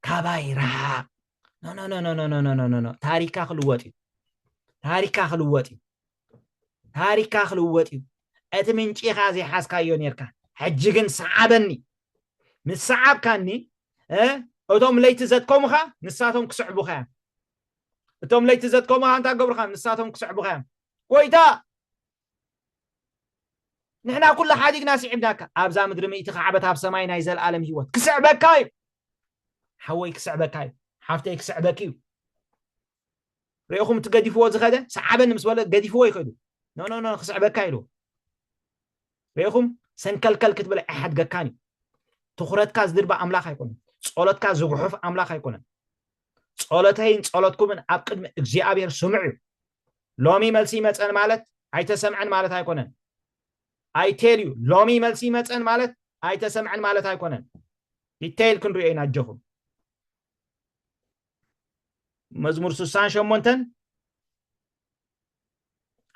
ካባይ ረሓቕ ኖኖኖኖኖኖኖኖ ታሪካ ክልወጥ እዩ ታሪካ ክልወጥ እዩ ታሪካ ክልወጥ እዩ እቲ ምንጪካ ዘይሓዝካዮ ኔርካ ሕጂ ግን ሰዓበኒ ምስ ሰዓብካኒ እቶም ለይቲ ዘድከሙካ ንሳቶም ክስዕቡካ እዮም እቶም ለይቲ ዘድከሙካ እንታይ ገብሩካ ንሳቶም ክስዕቡካ እዮም ጎይታ ንሕና ኩሉ ሓዲግና ስዒብናካ ኣብዛ ምድሪ ምእቲ ካዕበት ኣብ ሰማይ ናይ ዘለኣለም ህይወት ክስዕበካ እዩ ሓወይ ክስዕበካ እዩ ሓፍተይ ክስዕበኪ እዩ ርኢኹም እቲ ገዲፍዎ ዝኸደ ሰዓበኒ ምስ በለ ገዲፍዎ ይኸዱ ኖኖኖ ክስዕበካ ኢሉ ርኢኹም ሰንከልከል ክትብል ኣይሓድገካን እዩ ትኹረትካ ዝድርባ ኣምላኽ ኣይኮነን ጸሎትካ ዝጉሑፍ ኣምላኽ ኣይኮነን ጸሎተይን ጸሎትኩምን ኣብ ቅድሚ እግዚኣብሔር ስምዑ እዩ ሎሚ መልሲ ይመፀን ማለት ኣይተሰምዐን ማለት ኣይኮነን ኣይቴል እዩ ሎሚ መልሲ ይመፀን ማለት ኣይተሰምዐን ማለት ኣይኮነን ዲተይል ክንሪኦ ኢና ኣጀኹም መዝሙር ስሳን ሸሞንተን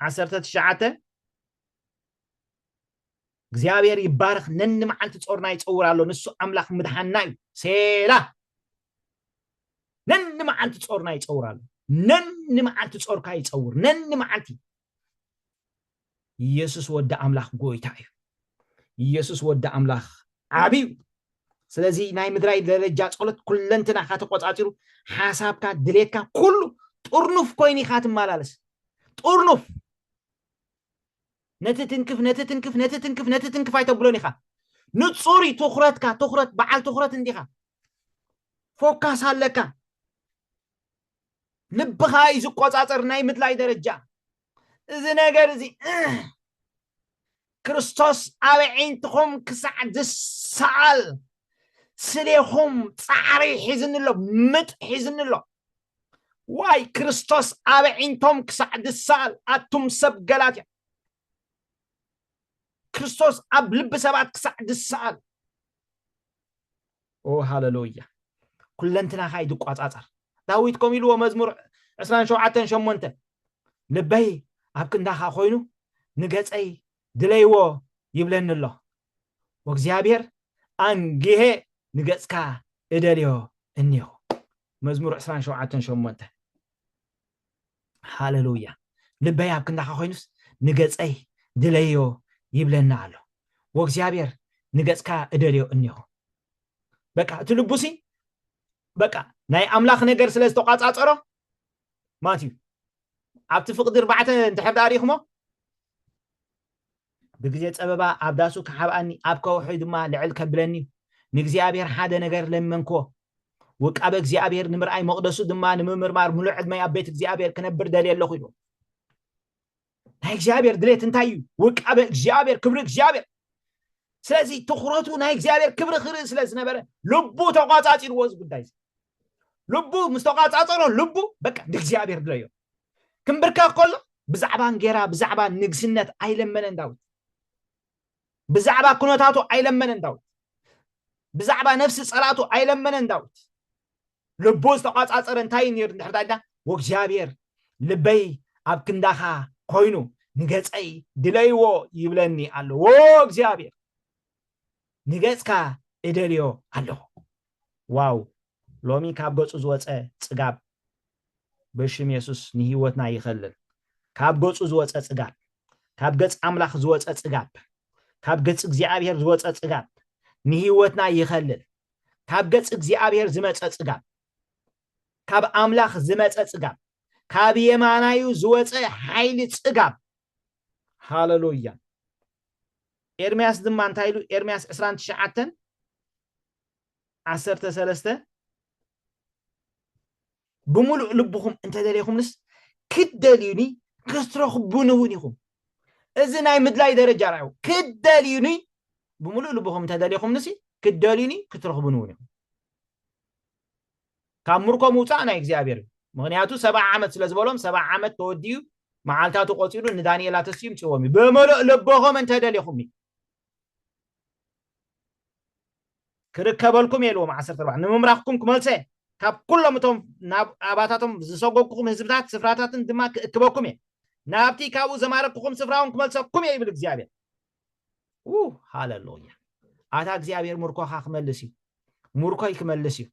ዓሰርተ ትሽዓተ እግዚኣብሔር ይባረኽ ነንመዓልቲ ጾርና ይፀውር ኣሎ ንሱ ኣምላኽ ምድሓና እዩ ሴላ ነንመዓልቲ ጾርና ይፀውር ኣሎ ነንመዓልቲ ጾርካ ይፀውር ነንመዓልቲ ኢየሱስ ወዲ ኣምላኽ ጎይታ እዩ ኢየሱስ ወዲ ኣምላኽ ዓቢ እዩ ስለዚ ናይ ምድራይ ደረጃ ጸሎት ኩለንትናኻ ተቆጻጺሩ ሓሳብካ ድሌትካ ኩሉ ጥርኑፍ ኮይኑ ኢኻ ትመላለስ ጥርኑፍ ነቲ ትንክፍ ነቲ ትንክፍ ነቲ ትንክፍ ነቲ ትንክፍ ኣይተብሎን ኢኻ ንጹር እዩ ትኹረትካ ትኹረት በዓል ትኹረት እንዲኻ ፎካስ ኣለካ ልብኻ እዩ ዝቆፃፀር ናይ ምድላይ ደረጃ እዚ ነገር እዚ ክርስቶስ ኣብ ዓይንትኹም ክሳዕ ዝሰኣል ስሌኹም ፃዕሪ ሒዝኒ ኣሎ ምጥ ሒዝኒ ኣሎ ዋይ ክርስቶስ ኣብ ዓይንቶም ክሳዕ ዝሰኣል ኣቱም ሰብ ገላትያ ክርስቶስ ኣብ ልቢ ሰባት ክሳዕ ዝሰኣል ኦ ሃለሉያ ኩለንትናኻ እዩ ዝቋጻጸር ዳዊት ከምኡ ኢልዎ መዝሙር 27 ሸሞንተ ልበይ ኣብ ክንዳኻ ኮይኑ ንገጸይ ድለይዎ ይብለኒ ኣሎ ወእግዚኣብሔር ኣንጊሄ ንገጽካ እደልዮ እኒኹ መዝሙር 27 ሸሞንተ ሃለሉያ ልበይ ኣብ ክንዳኻ ኮይኑስ ንገጸይ ድለዮ ይብለኒ ኣሎ ወእግዚኣብሔር ንገጽካ እደልዮ እኒሆ በቃ እቲ ልቡሲ በቃ ናይ ኣምላኽ ነገር ስለ ዝተቋጻጸሮ ማትዩ ኣብቲ ፍቕዲ እርባዕተ እንድሕር ዳኣ ሪኢኹሞ ብግዜ ጸበባ ኣብ ዳሱ ኪሓብኣኒ፣ ኣብ ከውሒ ድማ ልዕል ኬብለኒ፣ ንእግዚኣብሄር ሓደ ነገር ለመንክዎ፣ ውቃበ እግዚኣብሄር ንምርኣይ፣ መቕደሱ ድማ ንምምርማር፣ ምሉእ ዕድመይ ኣብ ቤት እግዚኣብሄር ክነብር ደልየ ኣለኹ ኢሉ። ናይ እግዚኣብሄር ድሌት እንታይ እዩ? ውቃበ እግዚኣብሄር፣ ክብሪ እግዚኣብሄር። ስለዚ ትኹረቱ ናይ እግዚኣብሄር ክብሪ ክርኢ ስለ ዝነበረ ልቡ ተቋጻጺርዎ እዚ ጉዳይ እዚ። ልቡ ምስ ተቋጻጸሮ ልቡ በቃ ንእግዚኣብሄር ድለዮ ክምብርከኽ ከሎ ብዛዕባ እንጌራ ብዛዕባ ንግስነት ኣይለመነን ዳዊት ብዛዕባ ኩነታቱ ኣይለመነን ዳዊት ብዛዕባ ነፍሲ ጸላቱ ኣይለመነን ዳዊት ልቡ ዝተቋጻጸረ እንታይ ነይሩ እንድሕር ዳይና ወእግዚኣብሔር ልበይ ኣብ ክንዳኻ ኮይኑ ንገጸይ ድለይዎ ይብለኒ ኣሎ ወ እግዚኣብሔር ንገጽካ እደልዮ ኣለኹ ዋው ሎሚ ካብ ገጹ ዝወጸ ጽጋብ በሽም የሱስ ንህይወትና ይኸልል ካብ ገጹ ዝወጸ ጽጋብ ካብ ገጽ ኣምላኽ ዝወጸ ጽጋብ ካብ ገጽ እግዚኣብሔር ዝወጸ ጽጋብ ንህይወትና ይኸልል ካብ ገጽ እግዚኣብሔር ዝመጸ ጽጋብ ካብ ኣምላኽ ዝመጸ ጽጋብ ካብ የማናዩ ዝወጸ ሓይሊ ጽጋብ ሃለሉያ ኤርምያስ ድማ እንታይ ኢሉ ኤርምያስ 29 ዓሰርተ ሰለስተ ብምሉእ ልብኹም እንተደልኹምንስ ክትደልዩኒ ክትረኽቡኒ እውን ኢኹም እዚ ናይ ምድላይ ደረጃ ራዩ ክትደልዩኒ ብምሉእ ልብኹም እንተደልኹምንሲ ክትደልዩኒ ክትረኽቡኒ እውን ኢኹም ካብ ምርኮ ምውፃእ ናይ እግዚኣብሔር እዩ ምክንያቱ ሰብዓ ዓመት ስለ ዝበሎም ሰብዓ ዓመት ተወዲኡ መዓልታቱ ቆፂሉ ንዳንኤል ኣተስዩ ምፅዎም እዩ ብምሉእ ልብኹም እንተደልኹምኒ ክርከበልኩም እየ ኢልዎም ዓሰርተ ኣርባዕተ ንምምራኽኩም ክመልሰ ካብ ኩሎም እቶም ናብ ኣባታቶም ዝሰጎግኩም ህዝብታት ስፍራታትን ድማ ክእክበኩም እየ ናብቲ ካብኡ ዘማረክኹም ስፍራ እውን ክመልሰኩም እየ ይብል እግዚኣብሔር ሃለሉያ ኣታ እግዚኣብሔር ምርኮኻ ክመልስ እዩ ምርኮይ ክመልስ እዩ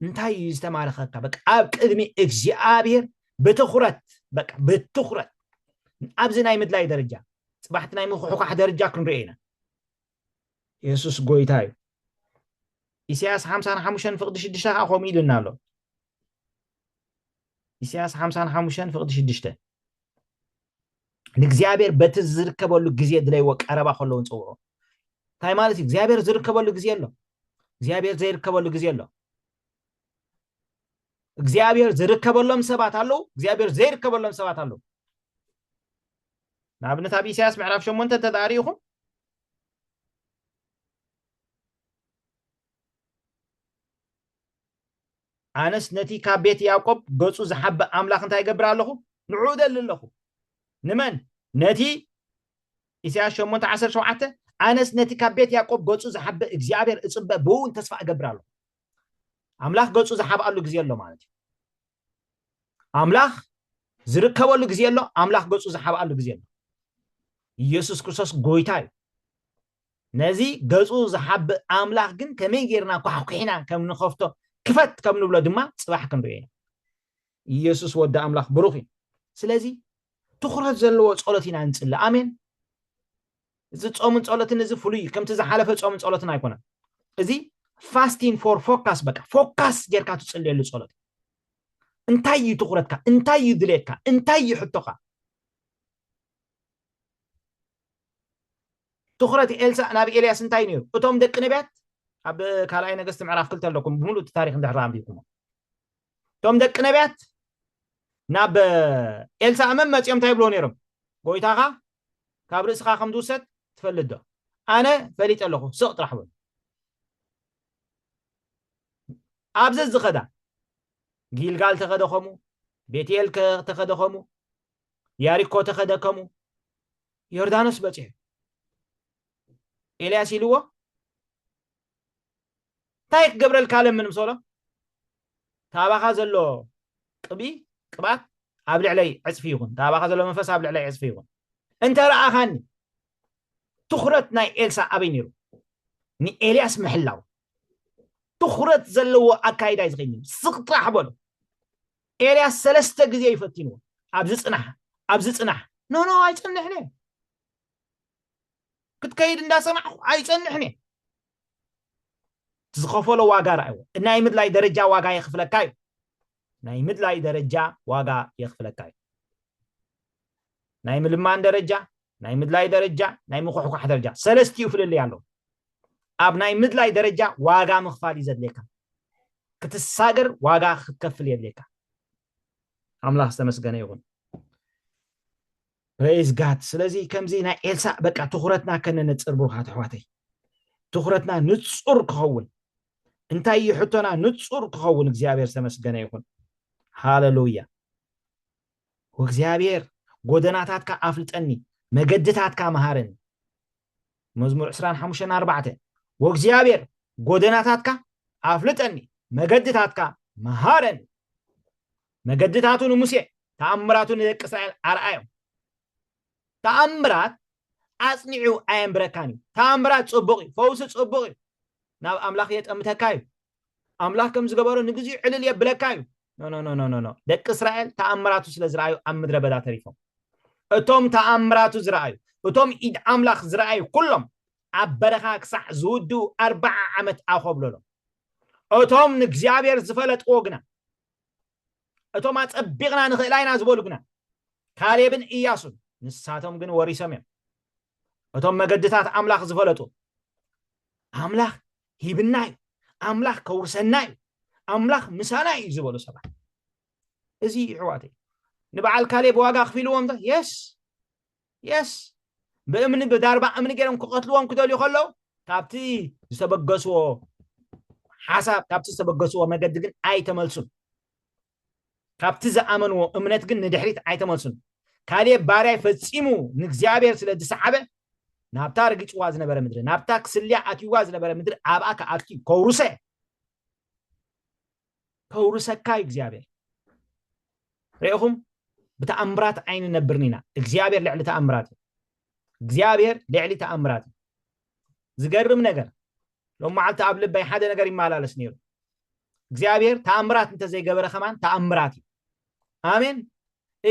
እንታይ እዩ ዝተማረኸካ በቃ ኣብ ቅድሚ እግዚኣብሔር ብትኹረት በቃ ብትኹረት ኣብዚ ናይ ምድላይ ደረጃ ፅባሕቲ ናይ ምኩሕኳሕ ደረጃ ክንሪኦ ኢና የሱስ ጎይታ እዩ። ኢሳያስ ሓምሳን ሓሙሽተን ፍቕዲ ሽዱሽተ ከዓ ከምኡ ኢሉና ኣሎ። ኢሳያስ ሓምሳን ሓሙሽተን ፍቕዲ ሽዱሽተ ንእግዚኣብሔር በቲ ዝርከበሉ ግዜ ድለይዎ ቀረባ ከለዉ ንፅውዑ እንታይ ማለት እዩ እግዚኣብሔር ዝርከበሉ ግዜ ኣሎ እግዚኣብሔር ዘይርከበሉ ግዜ ኣሎ እግዚኣብሔር ዝርከበሎም ሰባት ኣለዉ እግዚኣብሔር ዘይርከበሎም ሰባት ኣለዉ ንኣብነት ኣብ ኢሳያስ ምዕራፍ ሸሞንተ እንተደኣ ሪኢኹም ኣነስ ነቲ ካብ ቤት ያዕቆብ ገጹ ዝሓብእ ኣምላኽ እንታይ ይገብር ኣለኹ ንዕኡ ደሊ ኣለኹ ንመን ነቲ ኢሳያስ ሸሞንተ ዓሰርተ ሸውዓተ ኣነስ ነቲ ካብ ቤት ያዕቆብ ገጹ ዝሓብእ እግዚኣብሔር እጽበ ብእውን ተስፋ እገብር ኣለኹ ኣምላኽ ገጹ ዝሓብኣሉ ግዜ ኣሎ ማለት እዩ ኣምላኽ ዝርከበሉ ግዜ ኣሎ፣ ኣምላኽ ገጹ ዝሓብኣሉ ግዜ ኣሎ። ኢየሱስ ክርስቶስ ጎይታ እዩ። ነዚ ገጹ ዝሓብእ ኣምላኽ ግን ከመይ ጌርና ኳሕኲሕና ከም ንኸፍቶ ክፈት ከም ንብሎ ድማ ጽባሕ ክንሪኦ ኢና። ኢየሱስ ወዲ ኣምላኽ ብሩኽ እዩ። ስለዚ ትኹረት ዘለዎ ጸሎት ኢና ንጽሊ። ኣሜን። እዚ ጾምን ጸሎትን እዚ ፍሉይ እዩ ከምቲ ዝሓለፈ ጾምን ጸሎትን ኣይኮነን እዚ ፋስቲን ፎር ፎካስ በቃ ፎካስ ጌርካ ትጽልየሉ ጸሎት እንታይ እዩ ትኩረትካ እንታይ እዩ ድሌትካ እንታይ እዩ ሕቶኻ ትኩረት ኤልሳ ናብ ኤልያስ እንታይ ነይሩ እቶም ደቂ ነቢያት ኣብ ካልኣይ ነገስቲ ምዕራፍ ክልተ ኣለኩም ብምሉእ እቲ ታሪክ እንድሕር ኣንቢብኩሞ እቶም ደቂ ነቢያት ናብ ኤልሳ እመም መፂኦም እንታይ ይብልዎ ነይሮም ጎይታኻ ካብ ርእስኻ ከም ዝውሰድ ትፈልጥ ዶ? ኣነ ፈሊጠ ኣለኹ ስቕ ጥራሕ በሉ። ኣብ ዘዝኸዳ ጊልጋል ተኸደ ከምኡ፣ ቤትኤል ተኸደ ከምኡ፣ ያሪኮ ተኸደ ከምኡ፣ ዮርዳኖስ በጺሑ። ኤልያስ ኢልዎ እንታይ ክገብረልካ ለምን ምስ በሎ እቲ ኣባኻ ዘሎ ቅብኢ ቅብኣት ኣብ ልዕለይ ዕፅፊ ይኹን እቲ ኣባኻ ዘሎ መንፈስ ኣብ ልዕለይ ዕፅፊ ይኹን እንተ ረኣኻኒ ትኹረት ናይ ኤልሳ ኣበይ ነይሩ ንኤልያስ ምሕላው ትኹረት ዘለዎ ኣካይዳ እዩ ዝኸይድ ስቕ ጥራሕ በሉ ኤልያስ ሰለስተ ግዜ ይፈቲንዎ ኣብዚ ፅናሕ ኣብዚ ፅናሕ ኖኖ ኣይፅንሕን እየ ክትከይድ እንዳሰማዕኩ ኣይጸንሕን እየ። እቲ ዝኸፈሎ ዋጋ ርኣይዎ። ናይ ምድላይ ደረጃ ዋጋ የኽፍለካ እዩ። ናይ ምድላይ ደረጃ ዋጋ የኽፍለካ እዩ። ናይ ምልማን ደረጃ፣ ናይ ምድላይ ደረጃ፣ ናይ ምኩሕኳሕ ደረጃ ሰለስቲኡ ፍልልይ ኣለዎ። ኣብ ናይ ምድላይ ደረጃ ዋጋ ምኽፋል እዩ ዘድልየካ። ክትሳገር ዋጋ ክትከፍል የድልየካ። ኣምላኽ ዝተመስገነ ይኹን። ፕሬዝ ጋድ ስለዚ ከምዚ ናይ ኤልሳእ በቃ ትኹረትና ከነነፅር ብሩኻት ኣሕዋተይ ትኹረትና ንፁር ክኸውን እንታይ እዩ ሕቶና ንፁር ክኸውን እግዚኣብሔር ዝተመስገነ ይኹን ሃለሉያ እግዚኣብሔር ጎደናታትካ ኣፍልጠኒ መገድታትካ መሃረኒ መዝሙር ዕስራን ሓሙሽተን ኣርባዕተ ወእግዚኣብሔር ጎደናታትካ ኣፍልጠኒ መገድታትካ መሃረኒ መገድታቱ ንሙሴ ተኣምራቱ ንደቂ እስራኤል ኣርኣዮም ተኣምራት ኣጽኒዑ ኣየንብረካን እዩ ተኣምራት ጽቡቕ እዩ ፈውሲ ጽቡቕ እዩ ናብ ኣምላኽ የጠምተካ እዩ ኣምላኽ ከም ዝገበሮ ንግዚኡ ዕልል የብለካ እዩ። ኖኖኖኖኖ ደቂ እስራኤል ተኣምራቱ ስለ ዝረኣዩ ኣብ ምድረ በዳ ተሪፎም። እቶም ተኣምራቱ ዝረኣዩ እቶም ኢድ ኣምላኽ ዝረኣዩ ኩሎም ኣብ በረኻ ክሳዕ ዝውድኡ ኣርብዓ ዓመት ኣኾብለሎም። እቶም ንእግዚኣብሔር ዝፈለጥዎ ግና እቶም ኣጸቢቕና ንኽእላ ኢና ዝበሉ ግና ካሌብን ኢያሱን ንሳቶም ግን ወሪሶም እዮም። እቶም መገድታት ኣምላኽ ዝፈለጡ፣ ኣምላኽ ሂብና እዩ፣ ኣምላኽ ከውርሰና እዩ፣ ኣምላኽ ምሳና እዩ ዝበሉ ሰባት እዚ እዩ ኣሕዋተይ። ንበዓል ካሌብ ዋጋ ክፊልዎም ዶ? የስ የስ ብእምኒ ብዳርባ እምኒ ገይሮም ክቐትልዎም ክደልዩ ከለዉ ካብቲ ዝተበገስዎ ሓሳብ ካብቲ ዝተበገስዎ መገዲ ግን ኣይተመልሱን። ካብቲ ዝኣመንዎ እምነት ግን ንድሕሪት ኣይተመልሱን። ካሌብ ባርያይ ፈጺሙ ንእግዚኣብሄር ስለ ዝሰዓበ፣ ናብታ ረጊጽዋ ዝነበረ ምድሪ፣ ናብታ ክስልያ ኣትይዋ ዝነበረ ምድሪ ኣብኣ ክኣቱ እዩ፣ ከውርሶ እየ። ከውርሰካ እዩ እግዚኣብሄር። ርኢኹም? ብተኣምራት ኣይንነብርን ኢና። እግዚኣብሄር ልዕሊ ተኣምራት እዩ። እግዚኣብሄር ልዕሊ ተኣምራት እዩ። ዝገርም ነገር ሎም መዓልቲ ኣብ ልበይ ሓደ ነገር ይመላለስ ነይሩ እግዚኣብሔር ተኣምራት እንተዘይገበረ ከማን ተኣምራት እዩ ኣሜን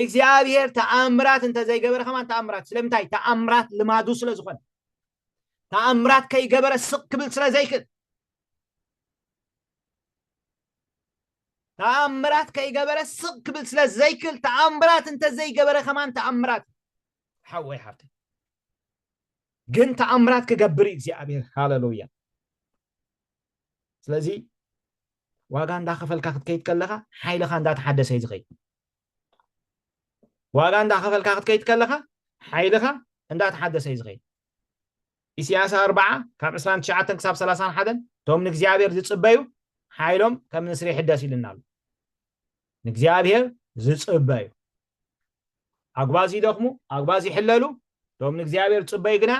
እግዚኣብሔር ተኣምራት እንተዘይገበረ ከማን ተኣምራት ስለምንታይ ተኣምራት ልማዱ ስለ ዝኾነ ተኣምራት ከይገበረ ስቕ ክብል ስለ ዘይክእል ተኣምራት ከይገበረ ስቕ ክብል ስለ ዘይክእል ተኣምራት እንተዘይገበረ ከማን ተኣምራት ሓወይ ሓፍተይ ግን ተኣምራት ክገብር እዩ እግዚኣብሔር ሃለሉያ ስለዚ ዋጋ እንዳኸፈልካ ክትከይድ ከለኻ ሓይልኻ እንዳተሓደሰ እዩ ዝኸይድ ዋጋ እንዳኸፈልካ ክትከይድ ከለኻ ሓይልኻ እንዳተሓደሰ እዩ ዝኸይድ ኢስያስ ኣርበዓ ካብ 29 ክሳብ 31 እቶም ንእግዚኣብሔር ዝፅበዩ ሓይሎም ከም ንስሪ ይሕደስ ኢሉና ኣሎ ንእግዚኣብሔር ዝፅበዩ ኣጕባዝ ይደኽሙ፣ ኣጕባዝ ይሕለሉ፣ እቶም ንእግዚኣብሔር ዝጽበዩ ግና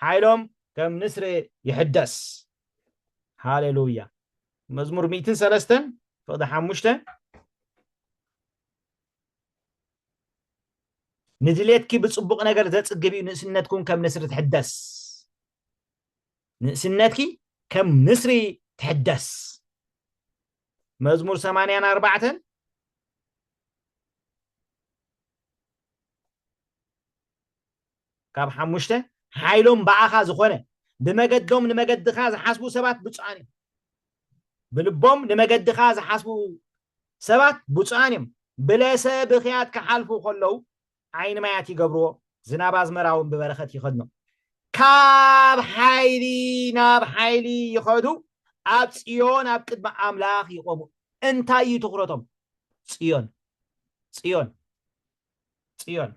ሓይሎም ከም ንስሪ ይሕደስ። ሃሌ ሉያ። መዝሙር ሚእትን ሰለስተን ፍቕዲ ሓሙሽተ ንድሌትኪ ብጽቡቕ ነገር ዘጽግብ እዩ፣ ንእስነትኩም ከም ንስሪ ትሕደስ። ንእስነትኪ ከም ንስሪ ትሕደስ። መዝሙር ሰማንያን ኣርባዕተን ካብ ሓሙሽተ ሓይሎም ብኣኻ ዝኾነ ብመገዶም ንመገድኻ ዝሓስቡ ሰባት ብፁዓን እዮም ብልቦም ንመገድኻ ዝሓስቡ ሰባት ብፁዓን እዮም ብለሰ ብክያት ክሓልፉ ከለዉ ዓይኒ ማያት ይገብርዎ፣ ዝናብ ኣዝመራውን ብበረኸት ይኸድኖ። ካብ ሓይሊ ናብ ሓይሊ ይኸዱ፣ ኣብ ጽዮን ኣብ ቅድሚ ኣምላኽ ይቖሙ። እንታይ እዩ ትኹረቶም? ጽዮን፣ ጽዮን፣ ጽዮን።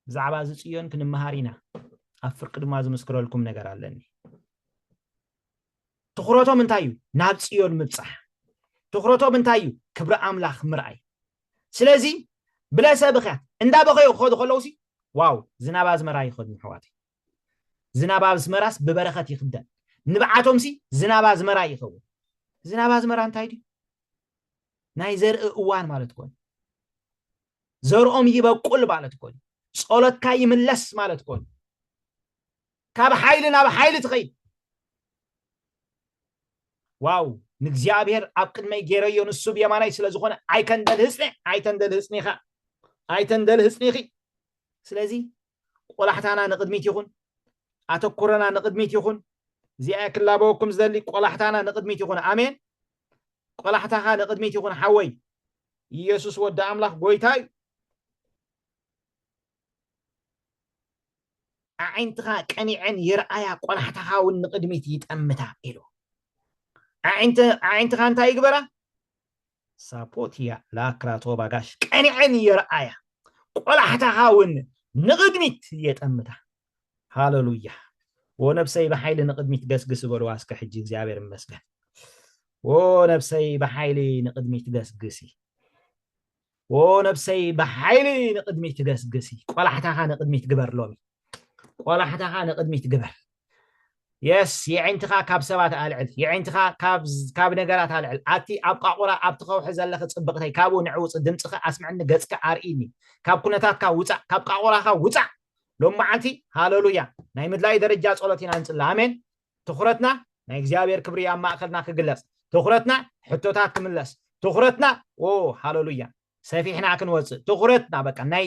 ብዛዕባ እዚ ጽዮን ክንመሃር ኢና። ኣብ ፍርቂ ድማ ዝምስክረልኩም ነገር ኣለኒ። ትኹረቶም እንታይ እዩ? ናብ ጽዮን ምብጻሕ። ትኹረቶም እንታይ እዩ? ክብሪ ኣምላኽ ምርኣይ። ስለዚ ብለሰ ብኽያት እንዳበኸዩ ክኸዱ ከለውሲ ዋው ዝናብ ኣዝመራ ይኸዱ ኣሕዋተይ። ዝናብ ኣዝመራስ ብበረኸት ይኽደን። ንብዓቶምሲ ዝናብ ኣዝመራ ይኸውን። ዝናብ ኣዝመራ እንታይ ድዩ? ናይ ዘርኢ እዋን ማለት ኮን ዘርኦም ይበቁል ማለት ኮን ጸሎትካ ይምለስ ማለት ኮን ካብ ሓይሊ ናብ ሓይሊ ትኸይድ። ዋው ንእግዚኣብሔር ኣብ ቅድመይ ጌረዮ ንሱ ብየማናይ ስለ ዝኾነ ኣይተንደል ህፅነ ኣይተንደል ህፅኒኻ ኣይተንደል ህፅኒኺ ስለዚ ቆላሕታና ንቅድሚት ይኹን ኣተኩረና ንቅድሚት ይኹን እዚኣ ክላበወኩም ዝደሊ ቆላሕታና ንቅድሚት ይኹን ኣሜን ቆላሕታኻ ንቅድሚት ይኹን ሓወይ ኢየሱስ ወዲ ኣምላኽ ጎይታ እዩ ኣዒንትኻ ቀኒዐን ይርኣያ፣ ቈላሕታኻ እውን ንቕድሚት ይጠምታ ኢሉ። ኣዒንትኻ እንታይ ይግበራ? ሳፖቲያ ላክራቶቫ ጋሽ፣ ቀኒዐን ይርኣያ፣ ቈላሕታኻ እውን ንቕድሚት የጠምታ። ሃለሉያ! ዎ ነብሰይ ብሓይሊ ንቕድሚት ገስግስ በልዋ እስከ ሕጂ እግዚኣብሔር ይመስገን። ዎ ነብሰይ ብሓይሊ ንቕድሚት ገስግሲ። ዎው ነብሰይ ብሓይሊ ንቅድሚት ገስግሲ ቆላሕታኻ ንቅድሚት ግበር ሎሚ ቆላሕታኻ ንቅድሚት ግበር የስ የዒንትኻ ካብ ሰባት ኣልዕል የዒንትኻ ካብ ነገራት ኣልዕል ኣቲ ኣብ ቋቑራ ኣብቲ ከውሒ ዘለኺ ጽብቕተይ ካብኡ ንዕውጽ ድምጽኺ ኣስምዕኒ ገጽኪ ኣርኢኒ ካብ ኩነታትካ ውጻእ ካብ ቃቑራኻ ውጻእ ሎም መዓልቲ ሃለሉያ ናይ ምድላይ ደረጃ ጸሎት ኢና ንጽሊ ኣሜን ትኹረትና ናይ እግዚኣብሔር ክብሪ ኣብ ማእከልና ክግለጽ ትኹረትና ሕቶታት ክምለስ ትኹረትና ኦ ሃለሉያ ሰፊሕና ክንወጽእ ትኹረትና በቃ ናይ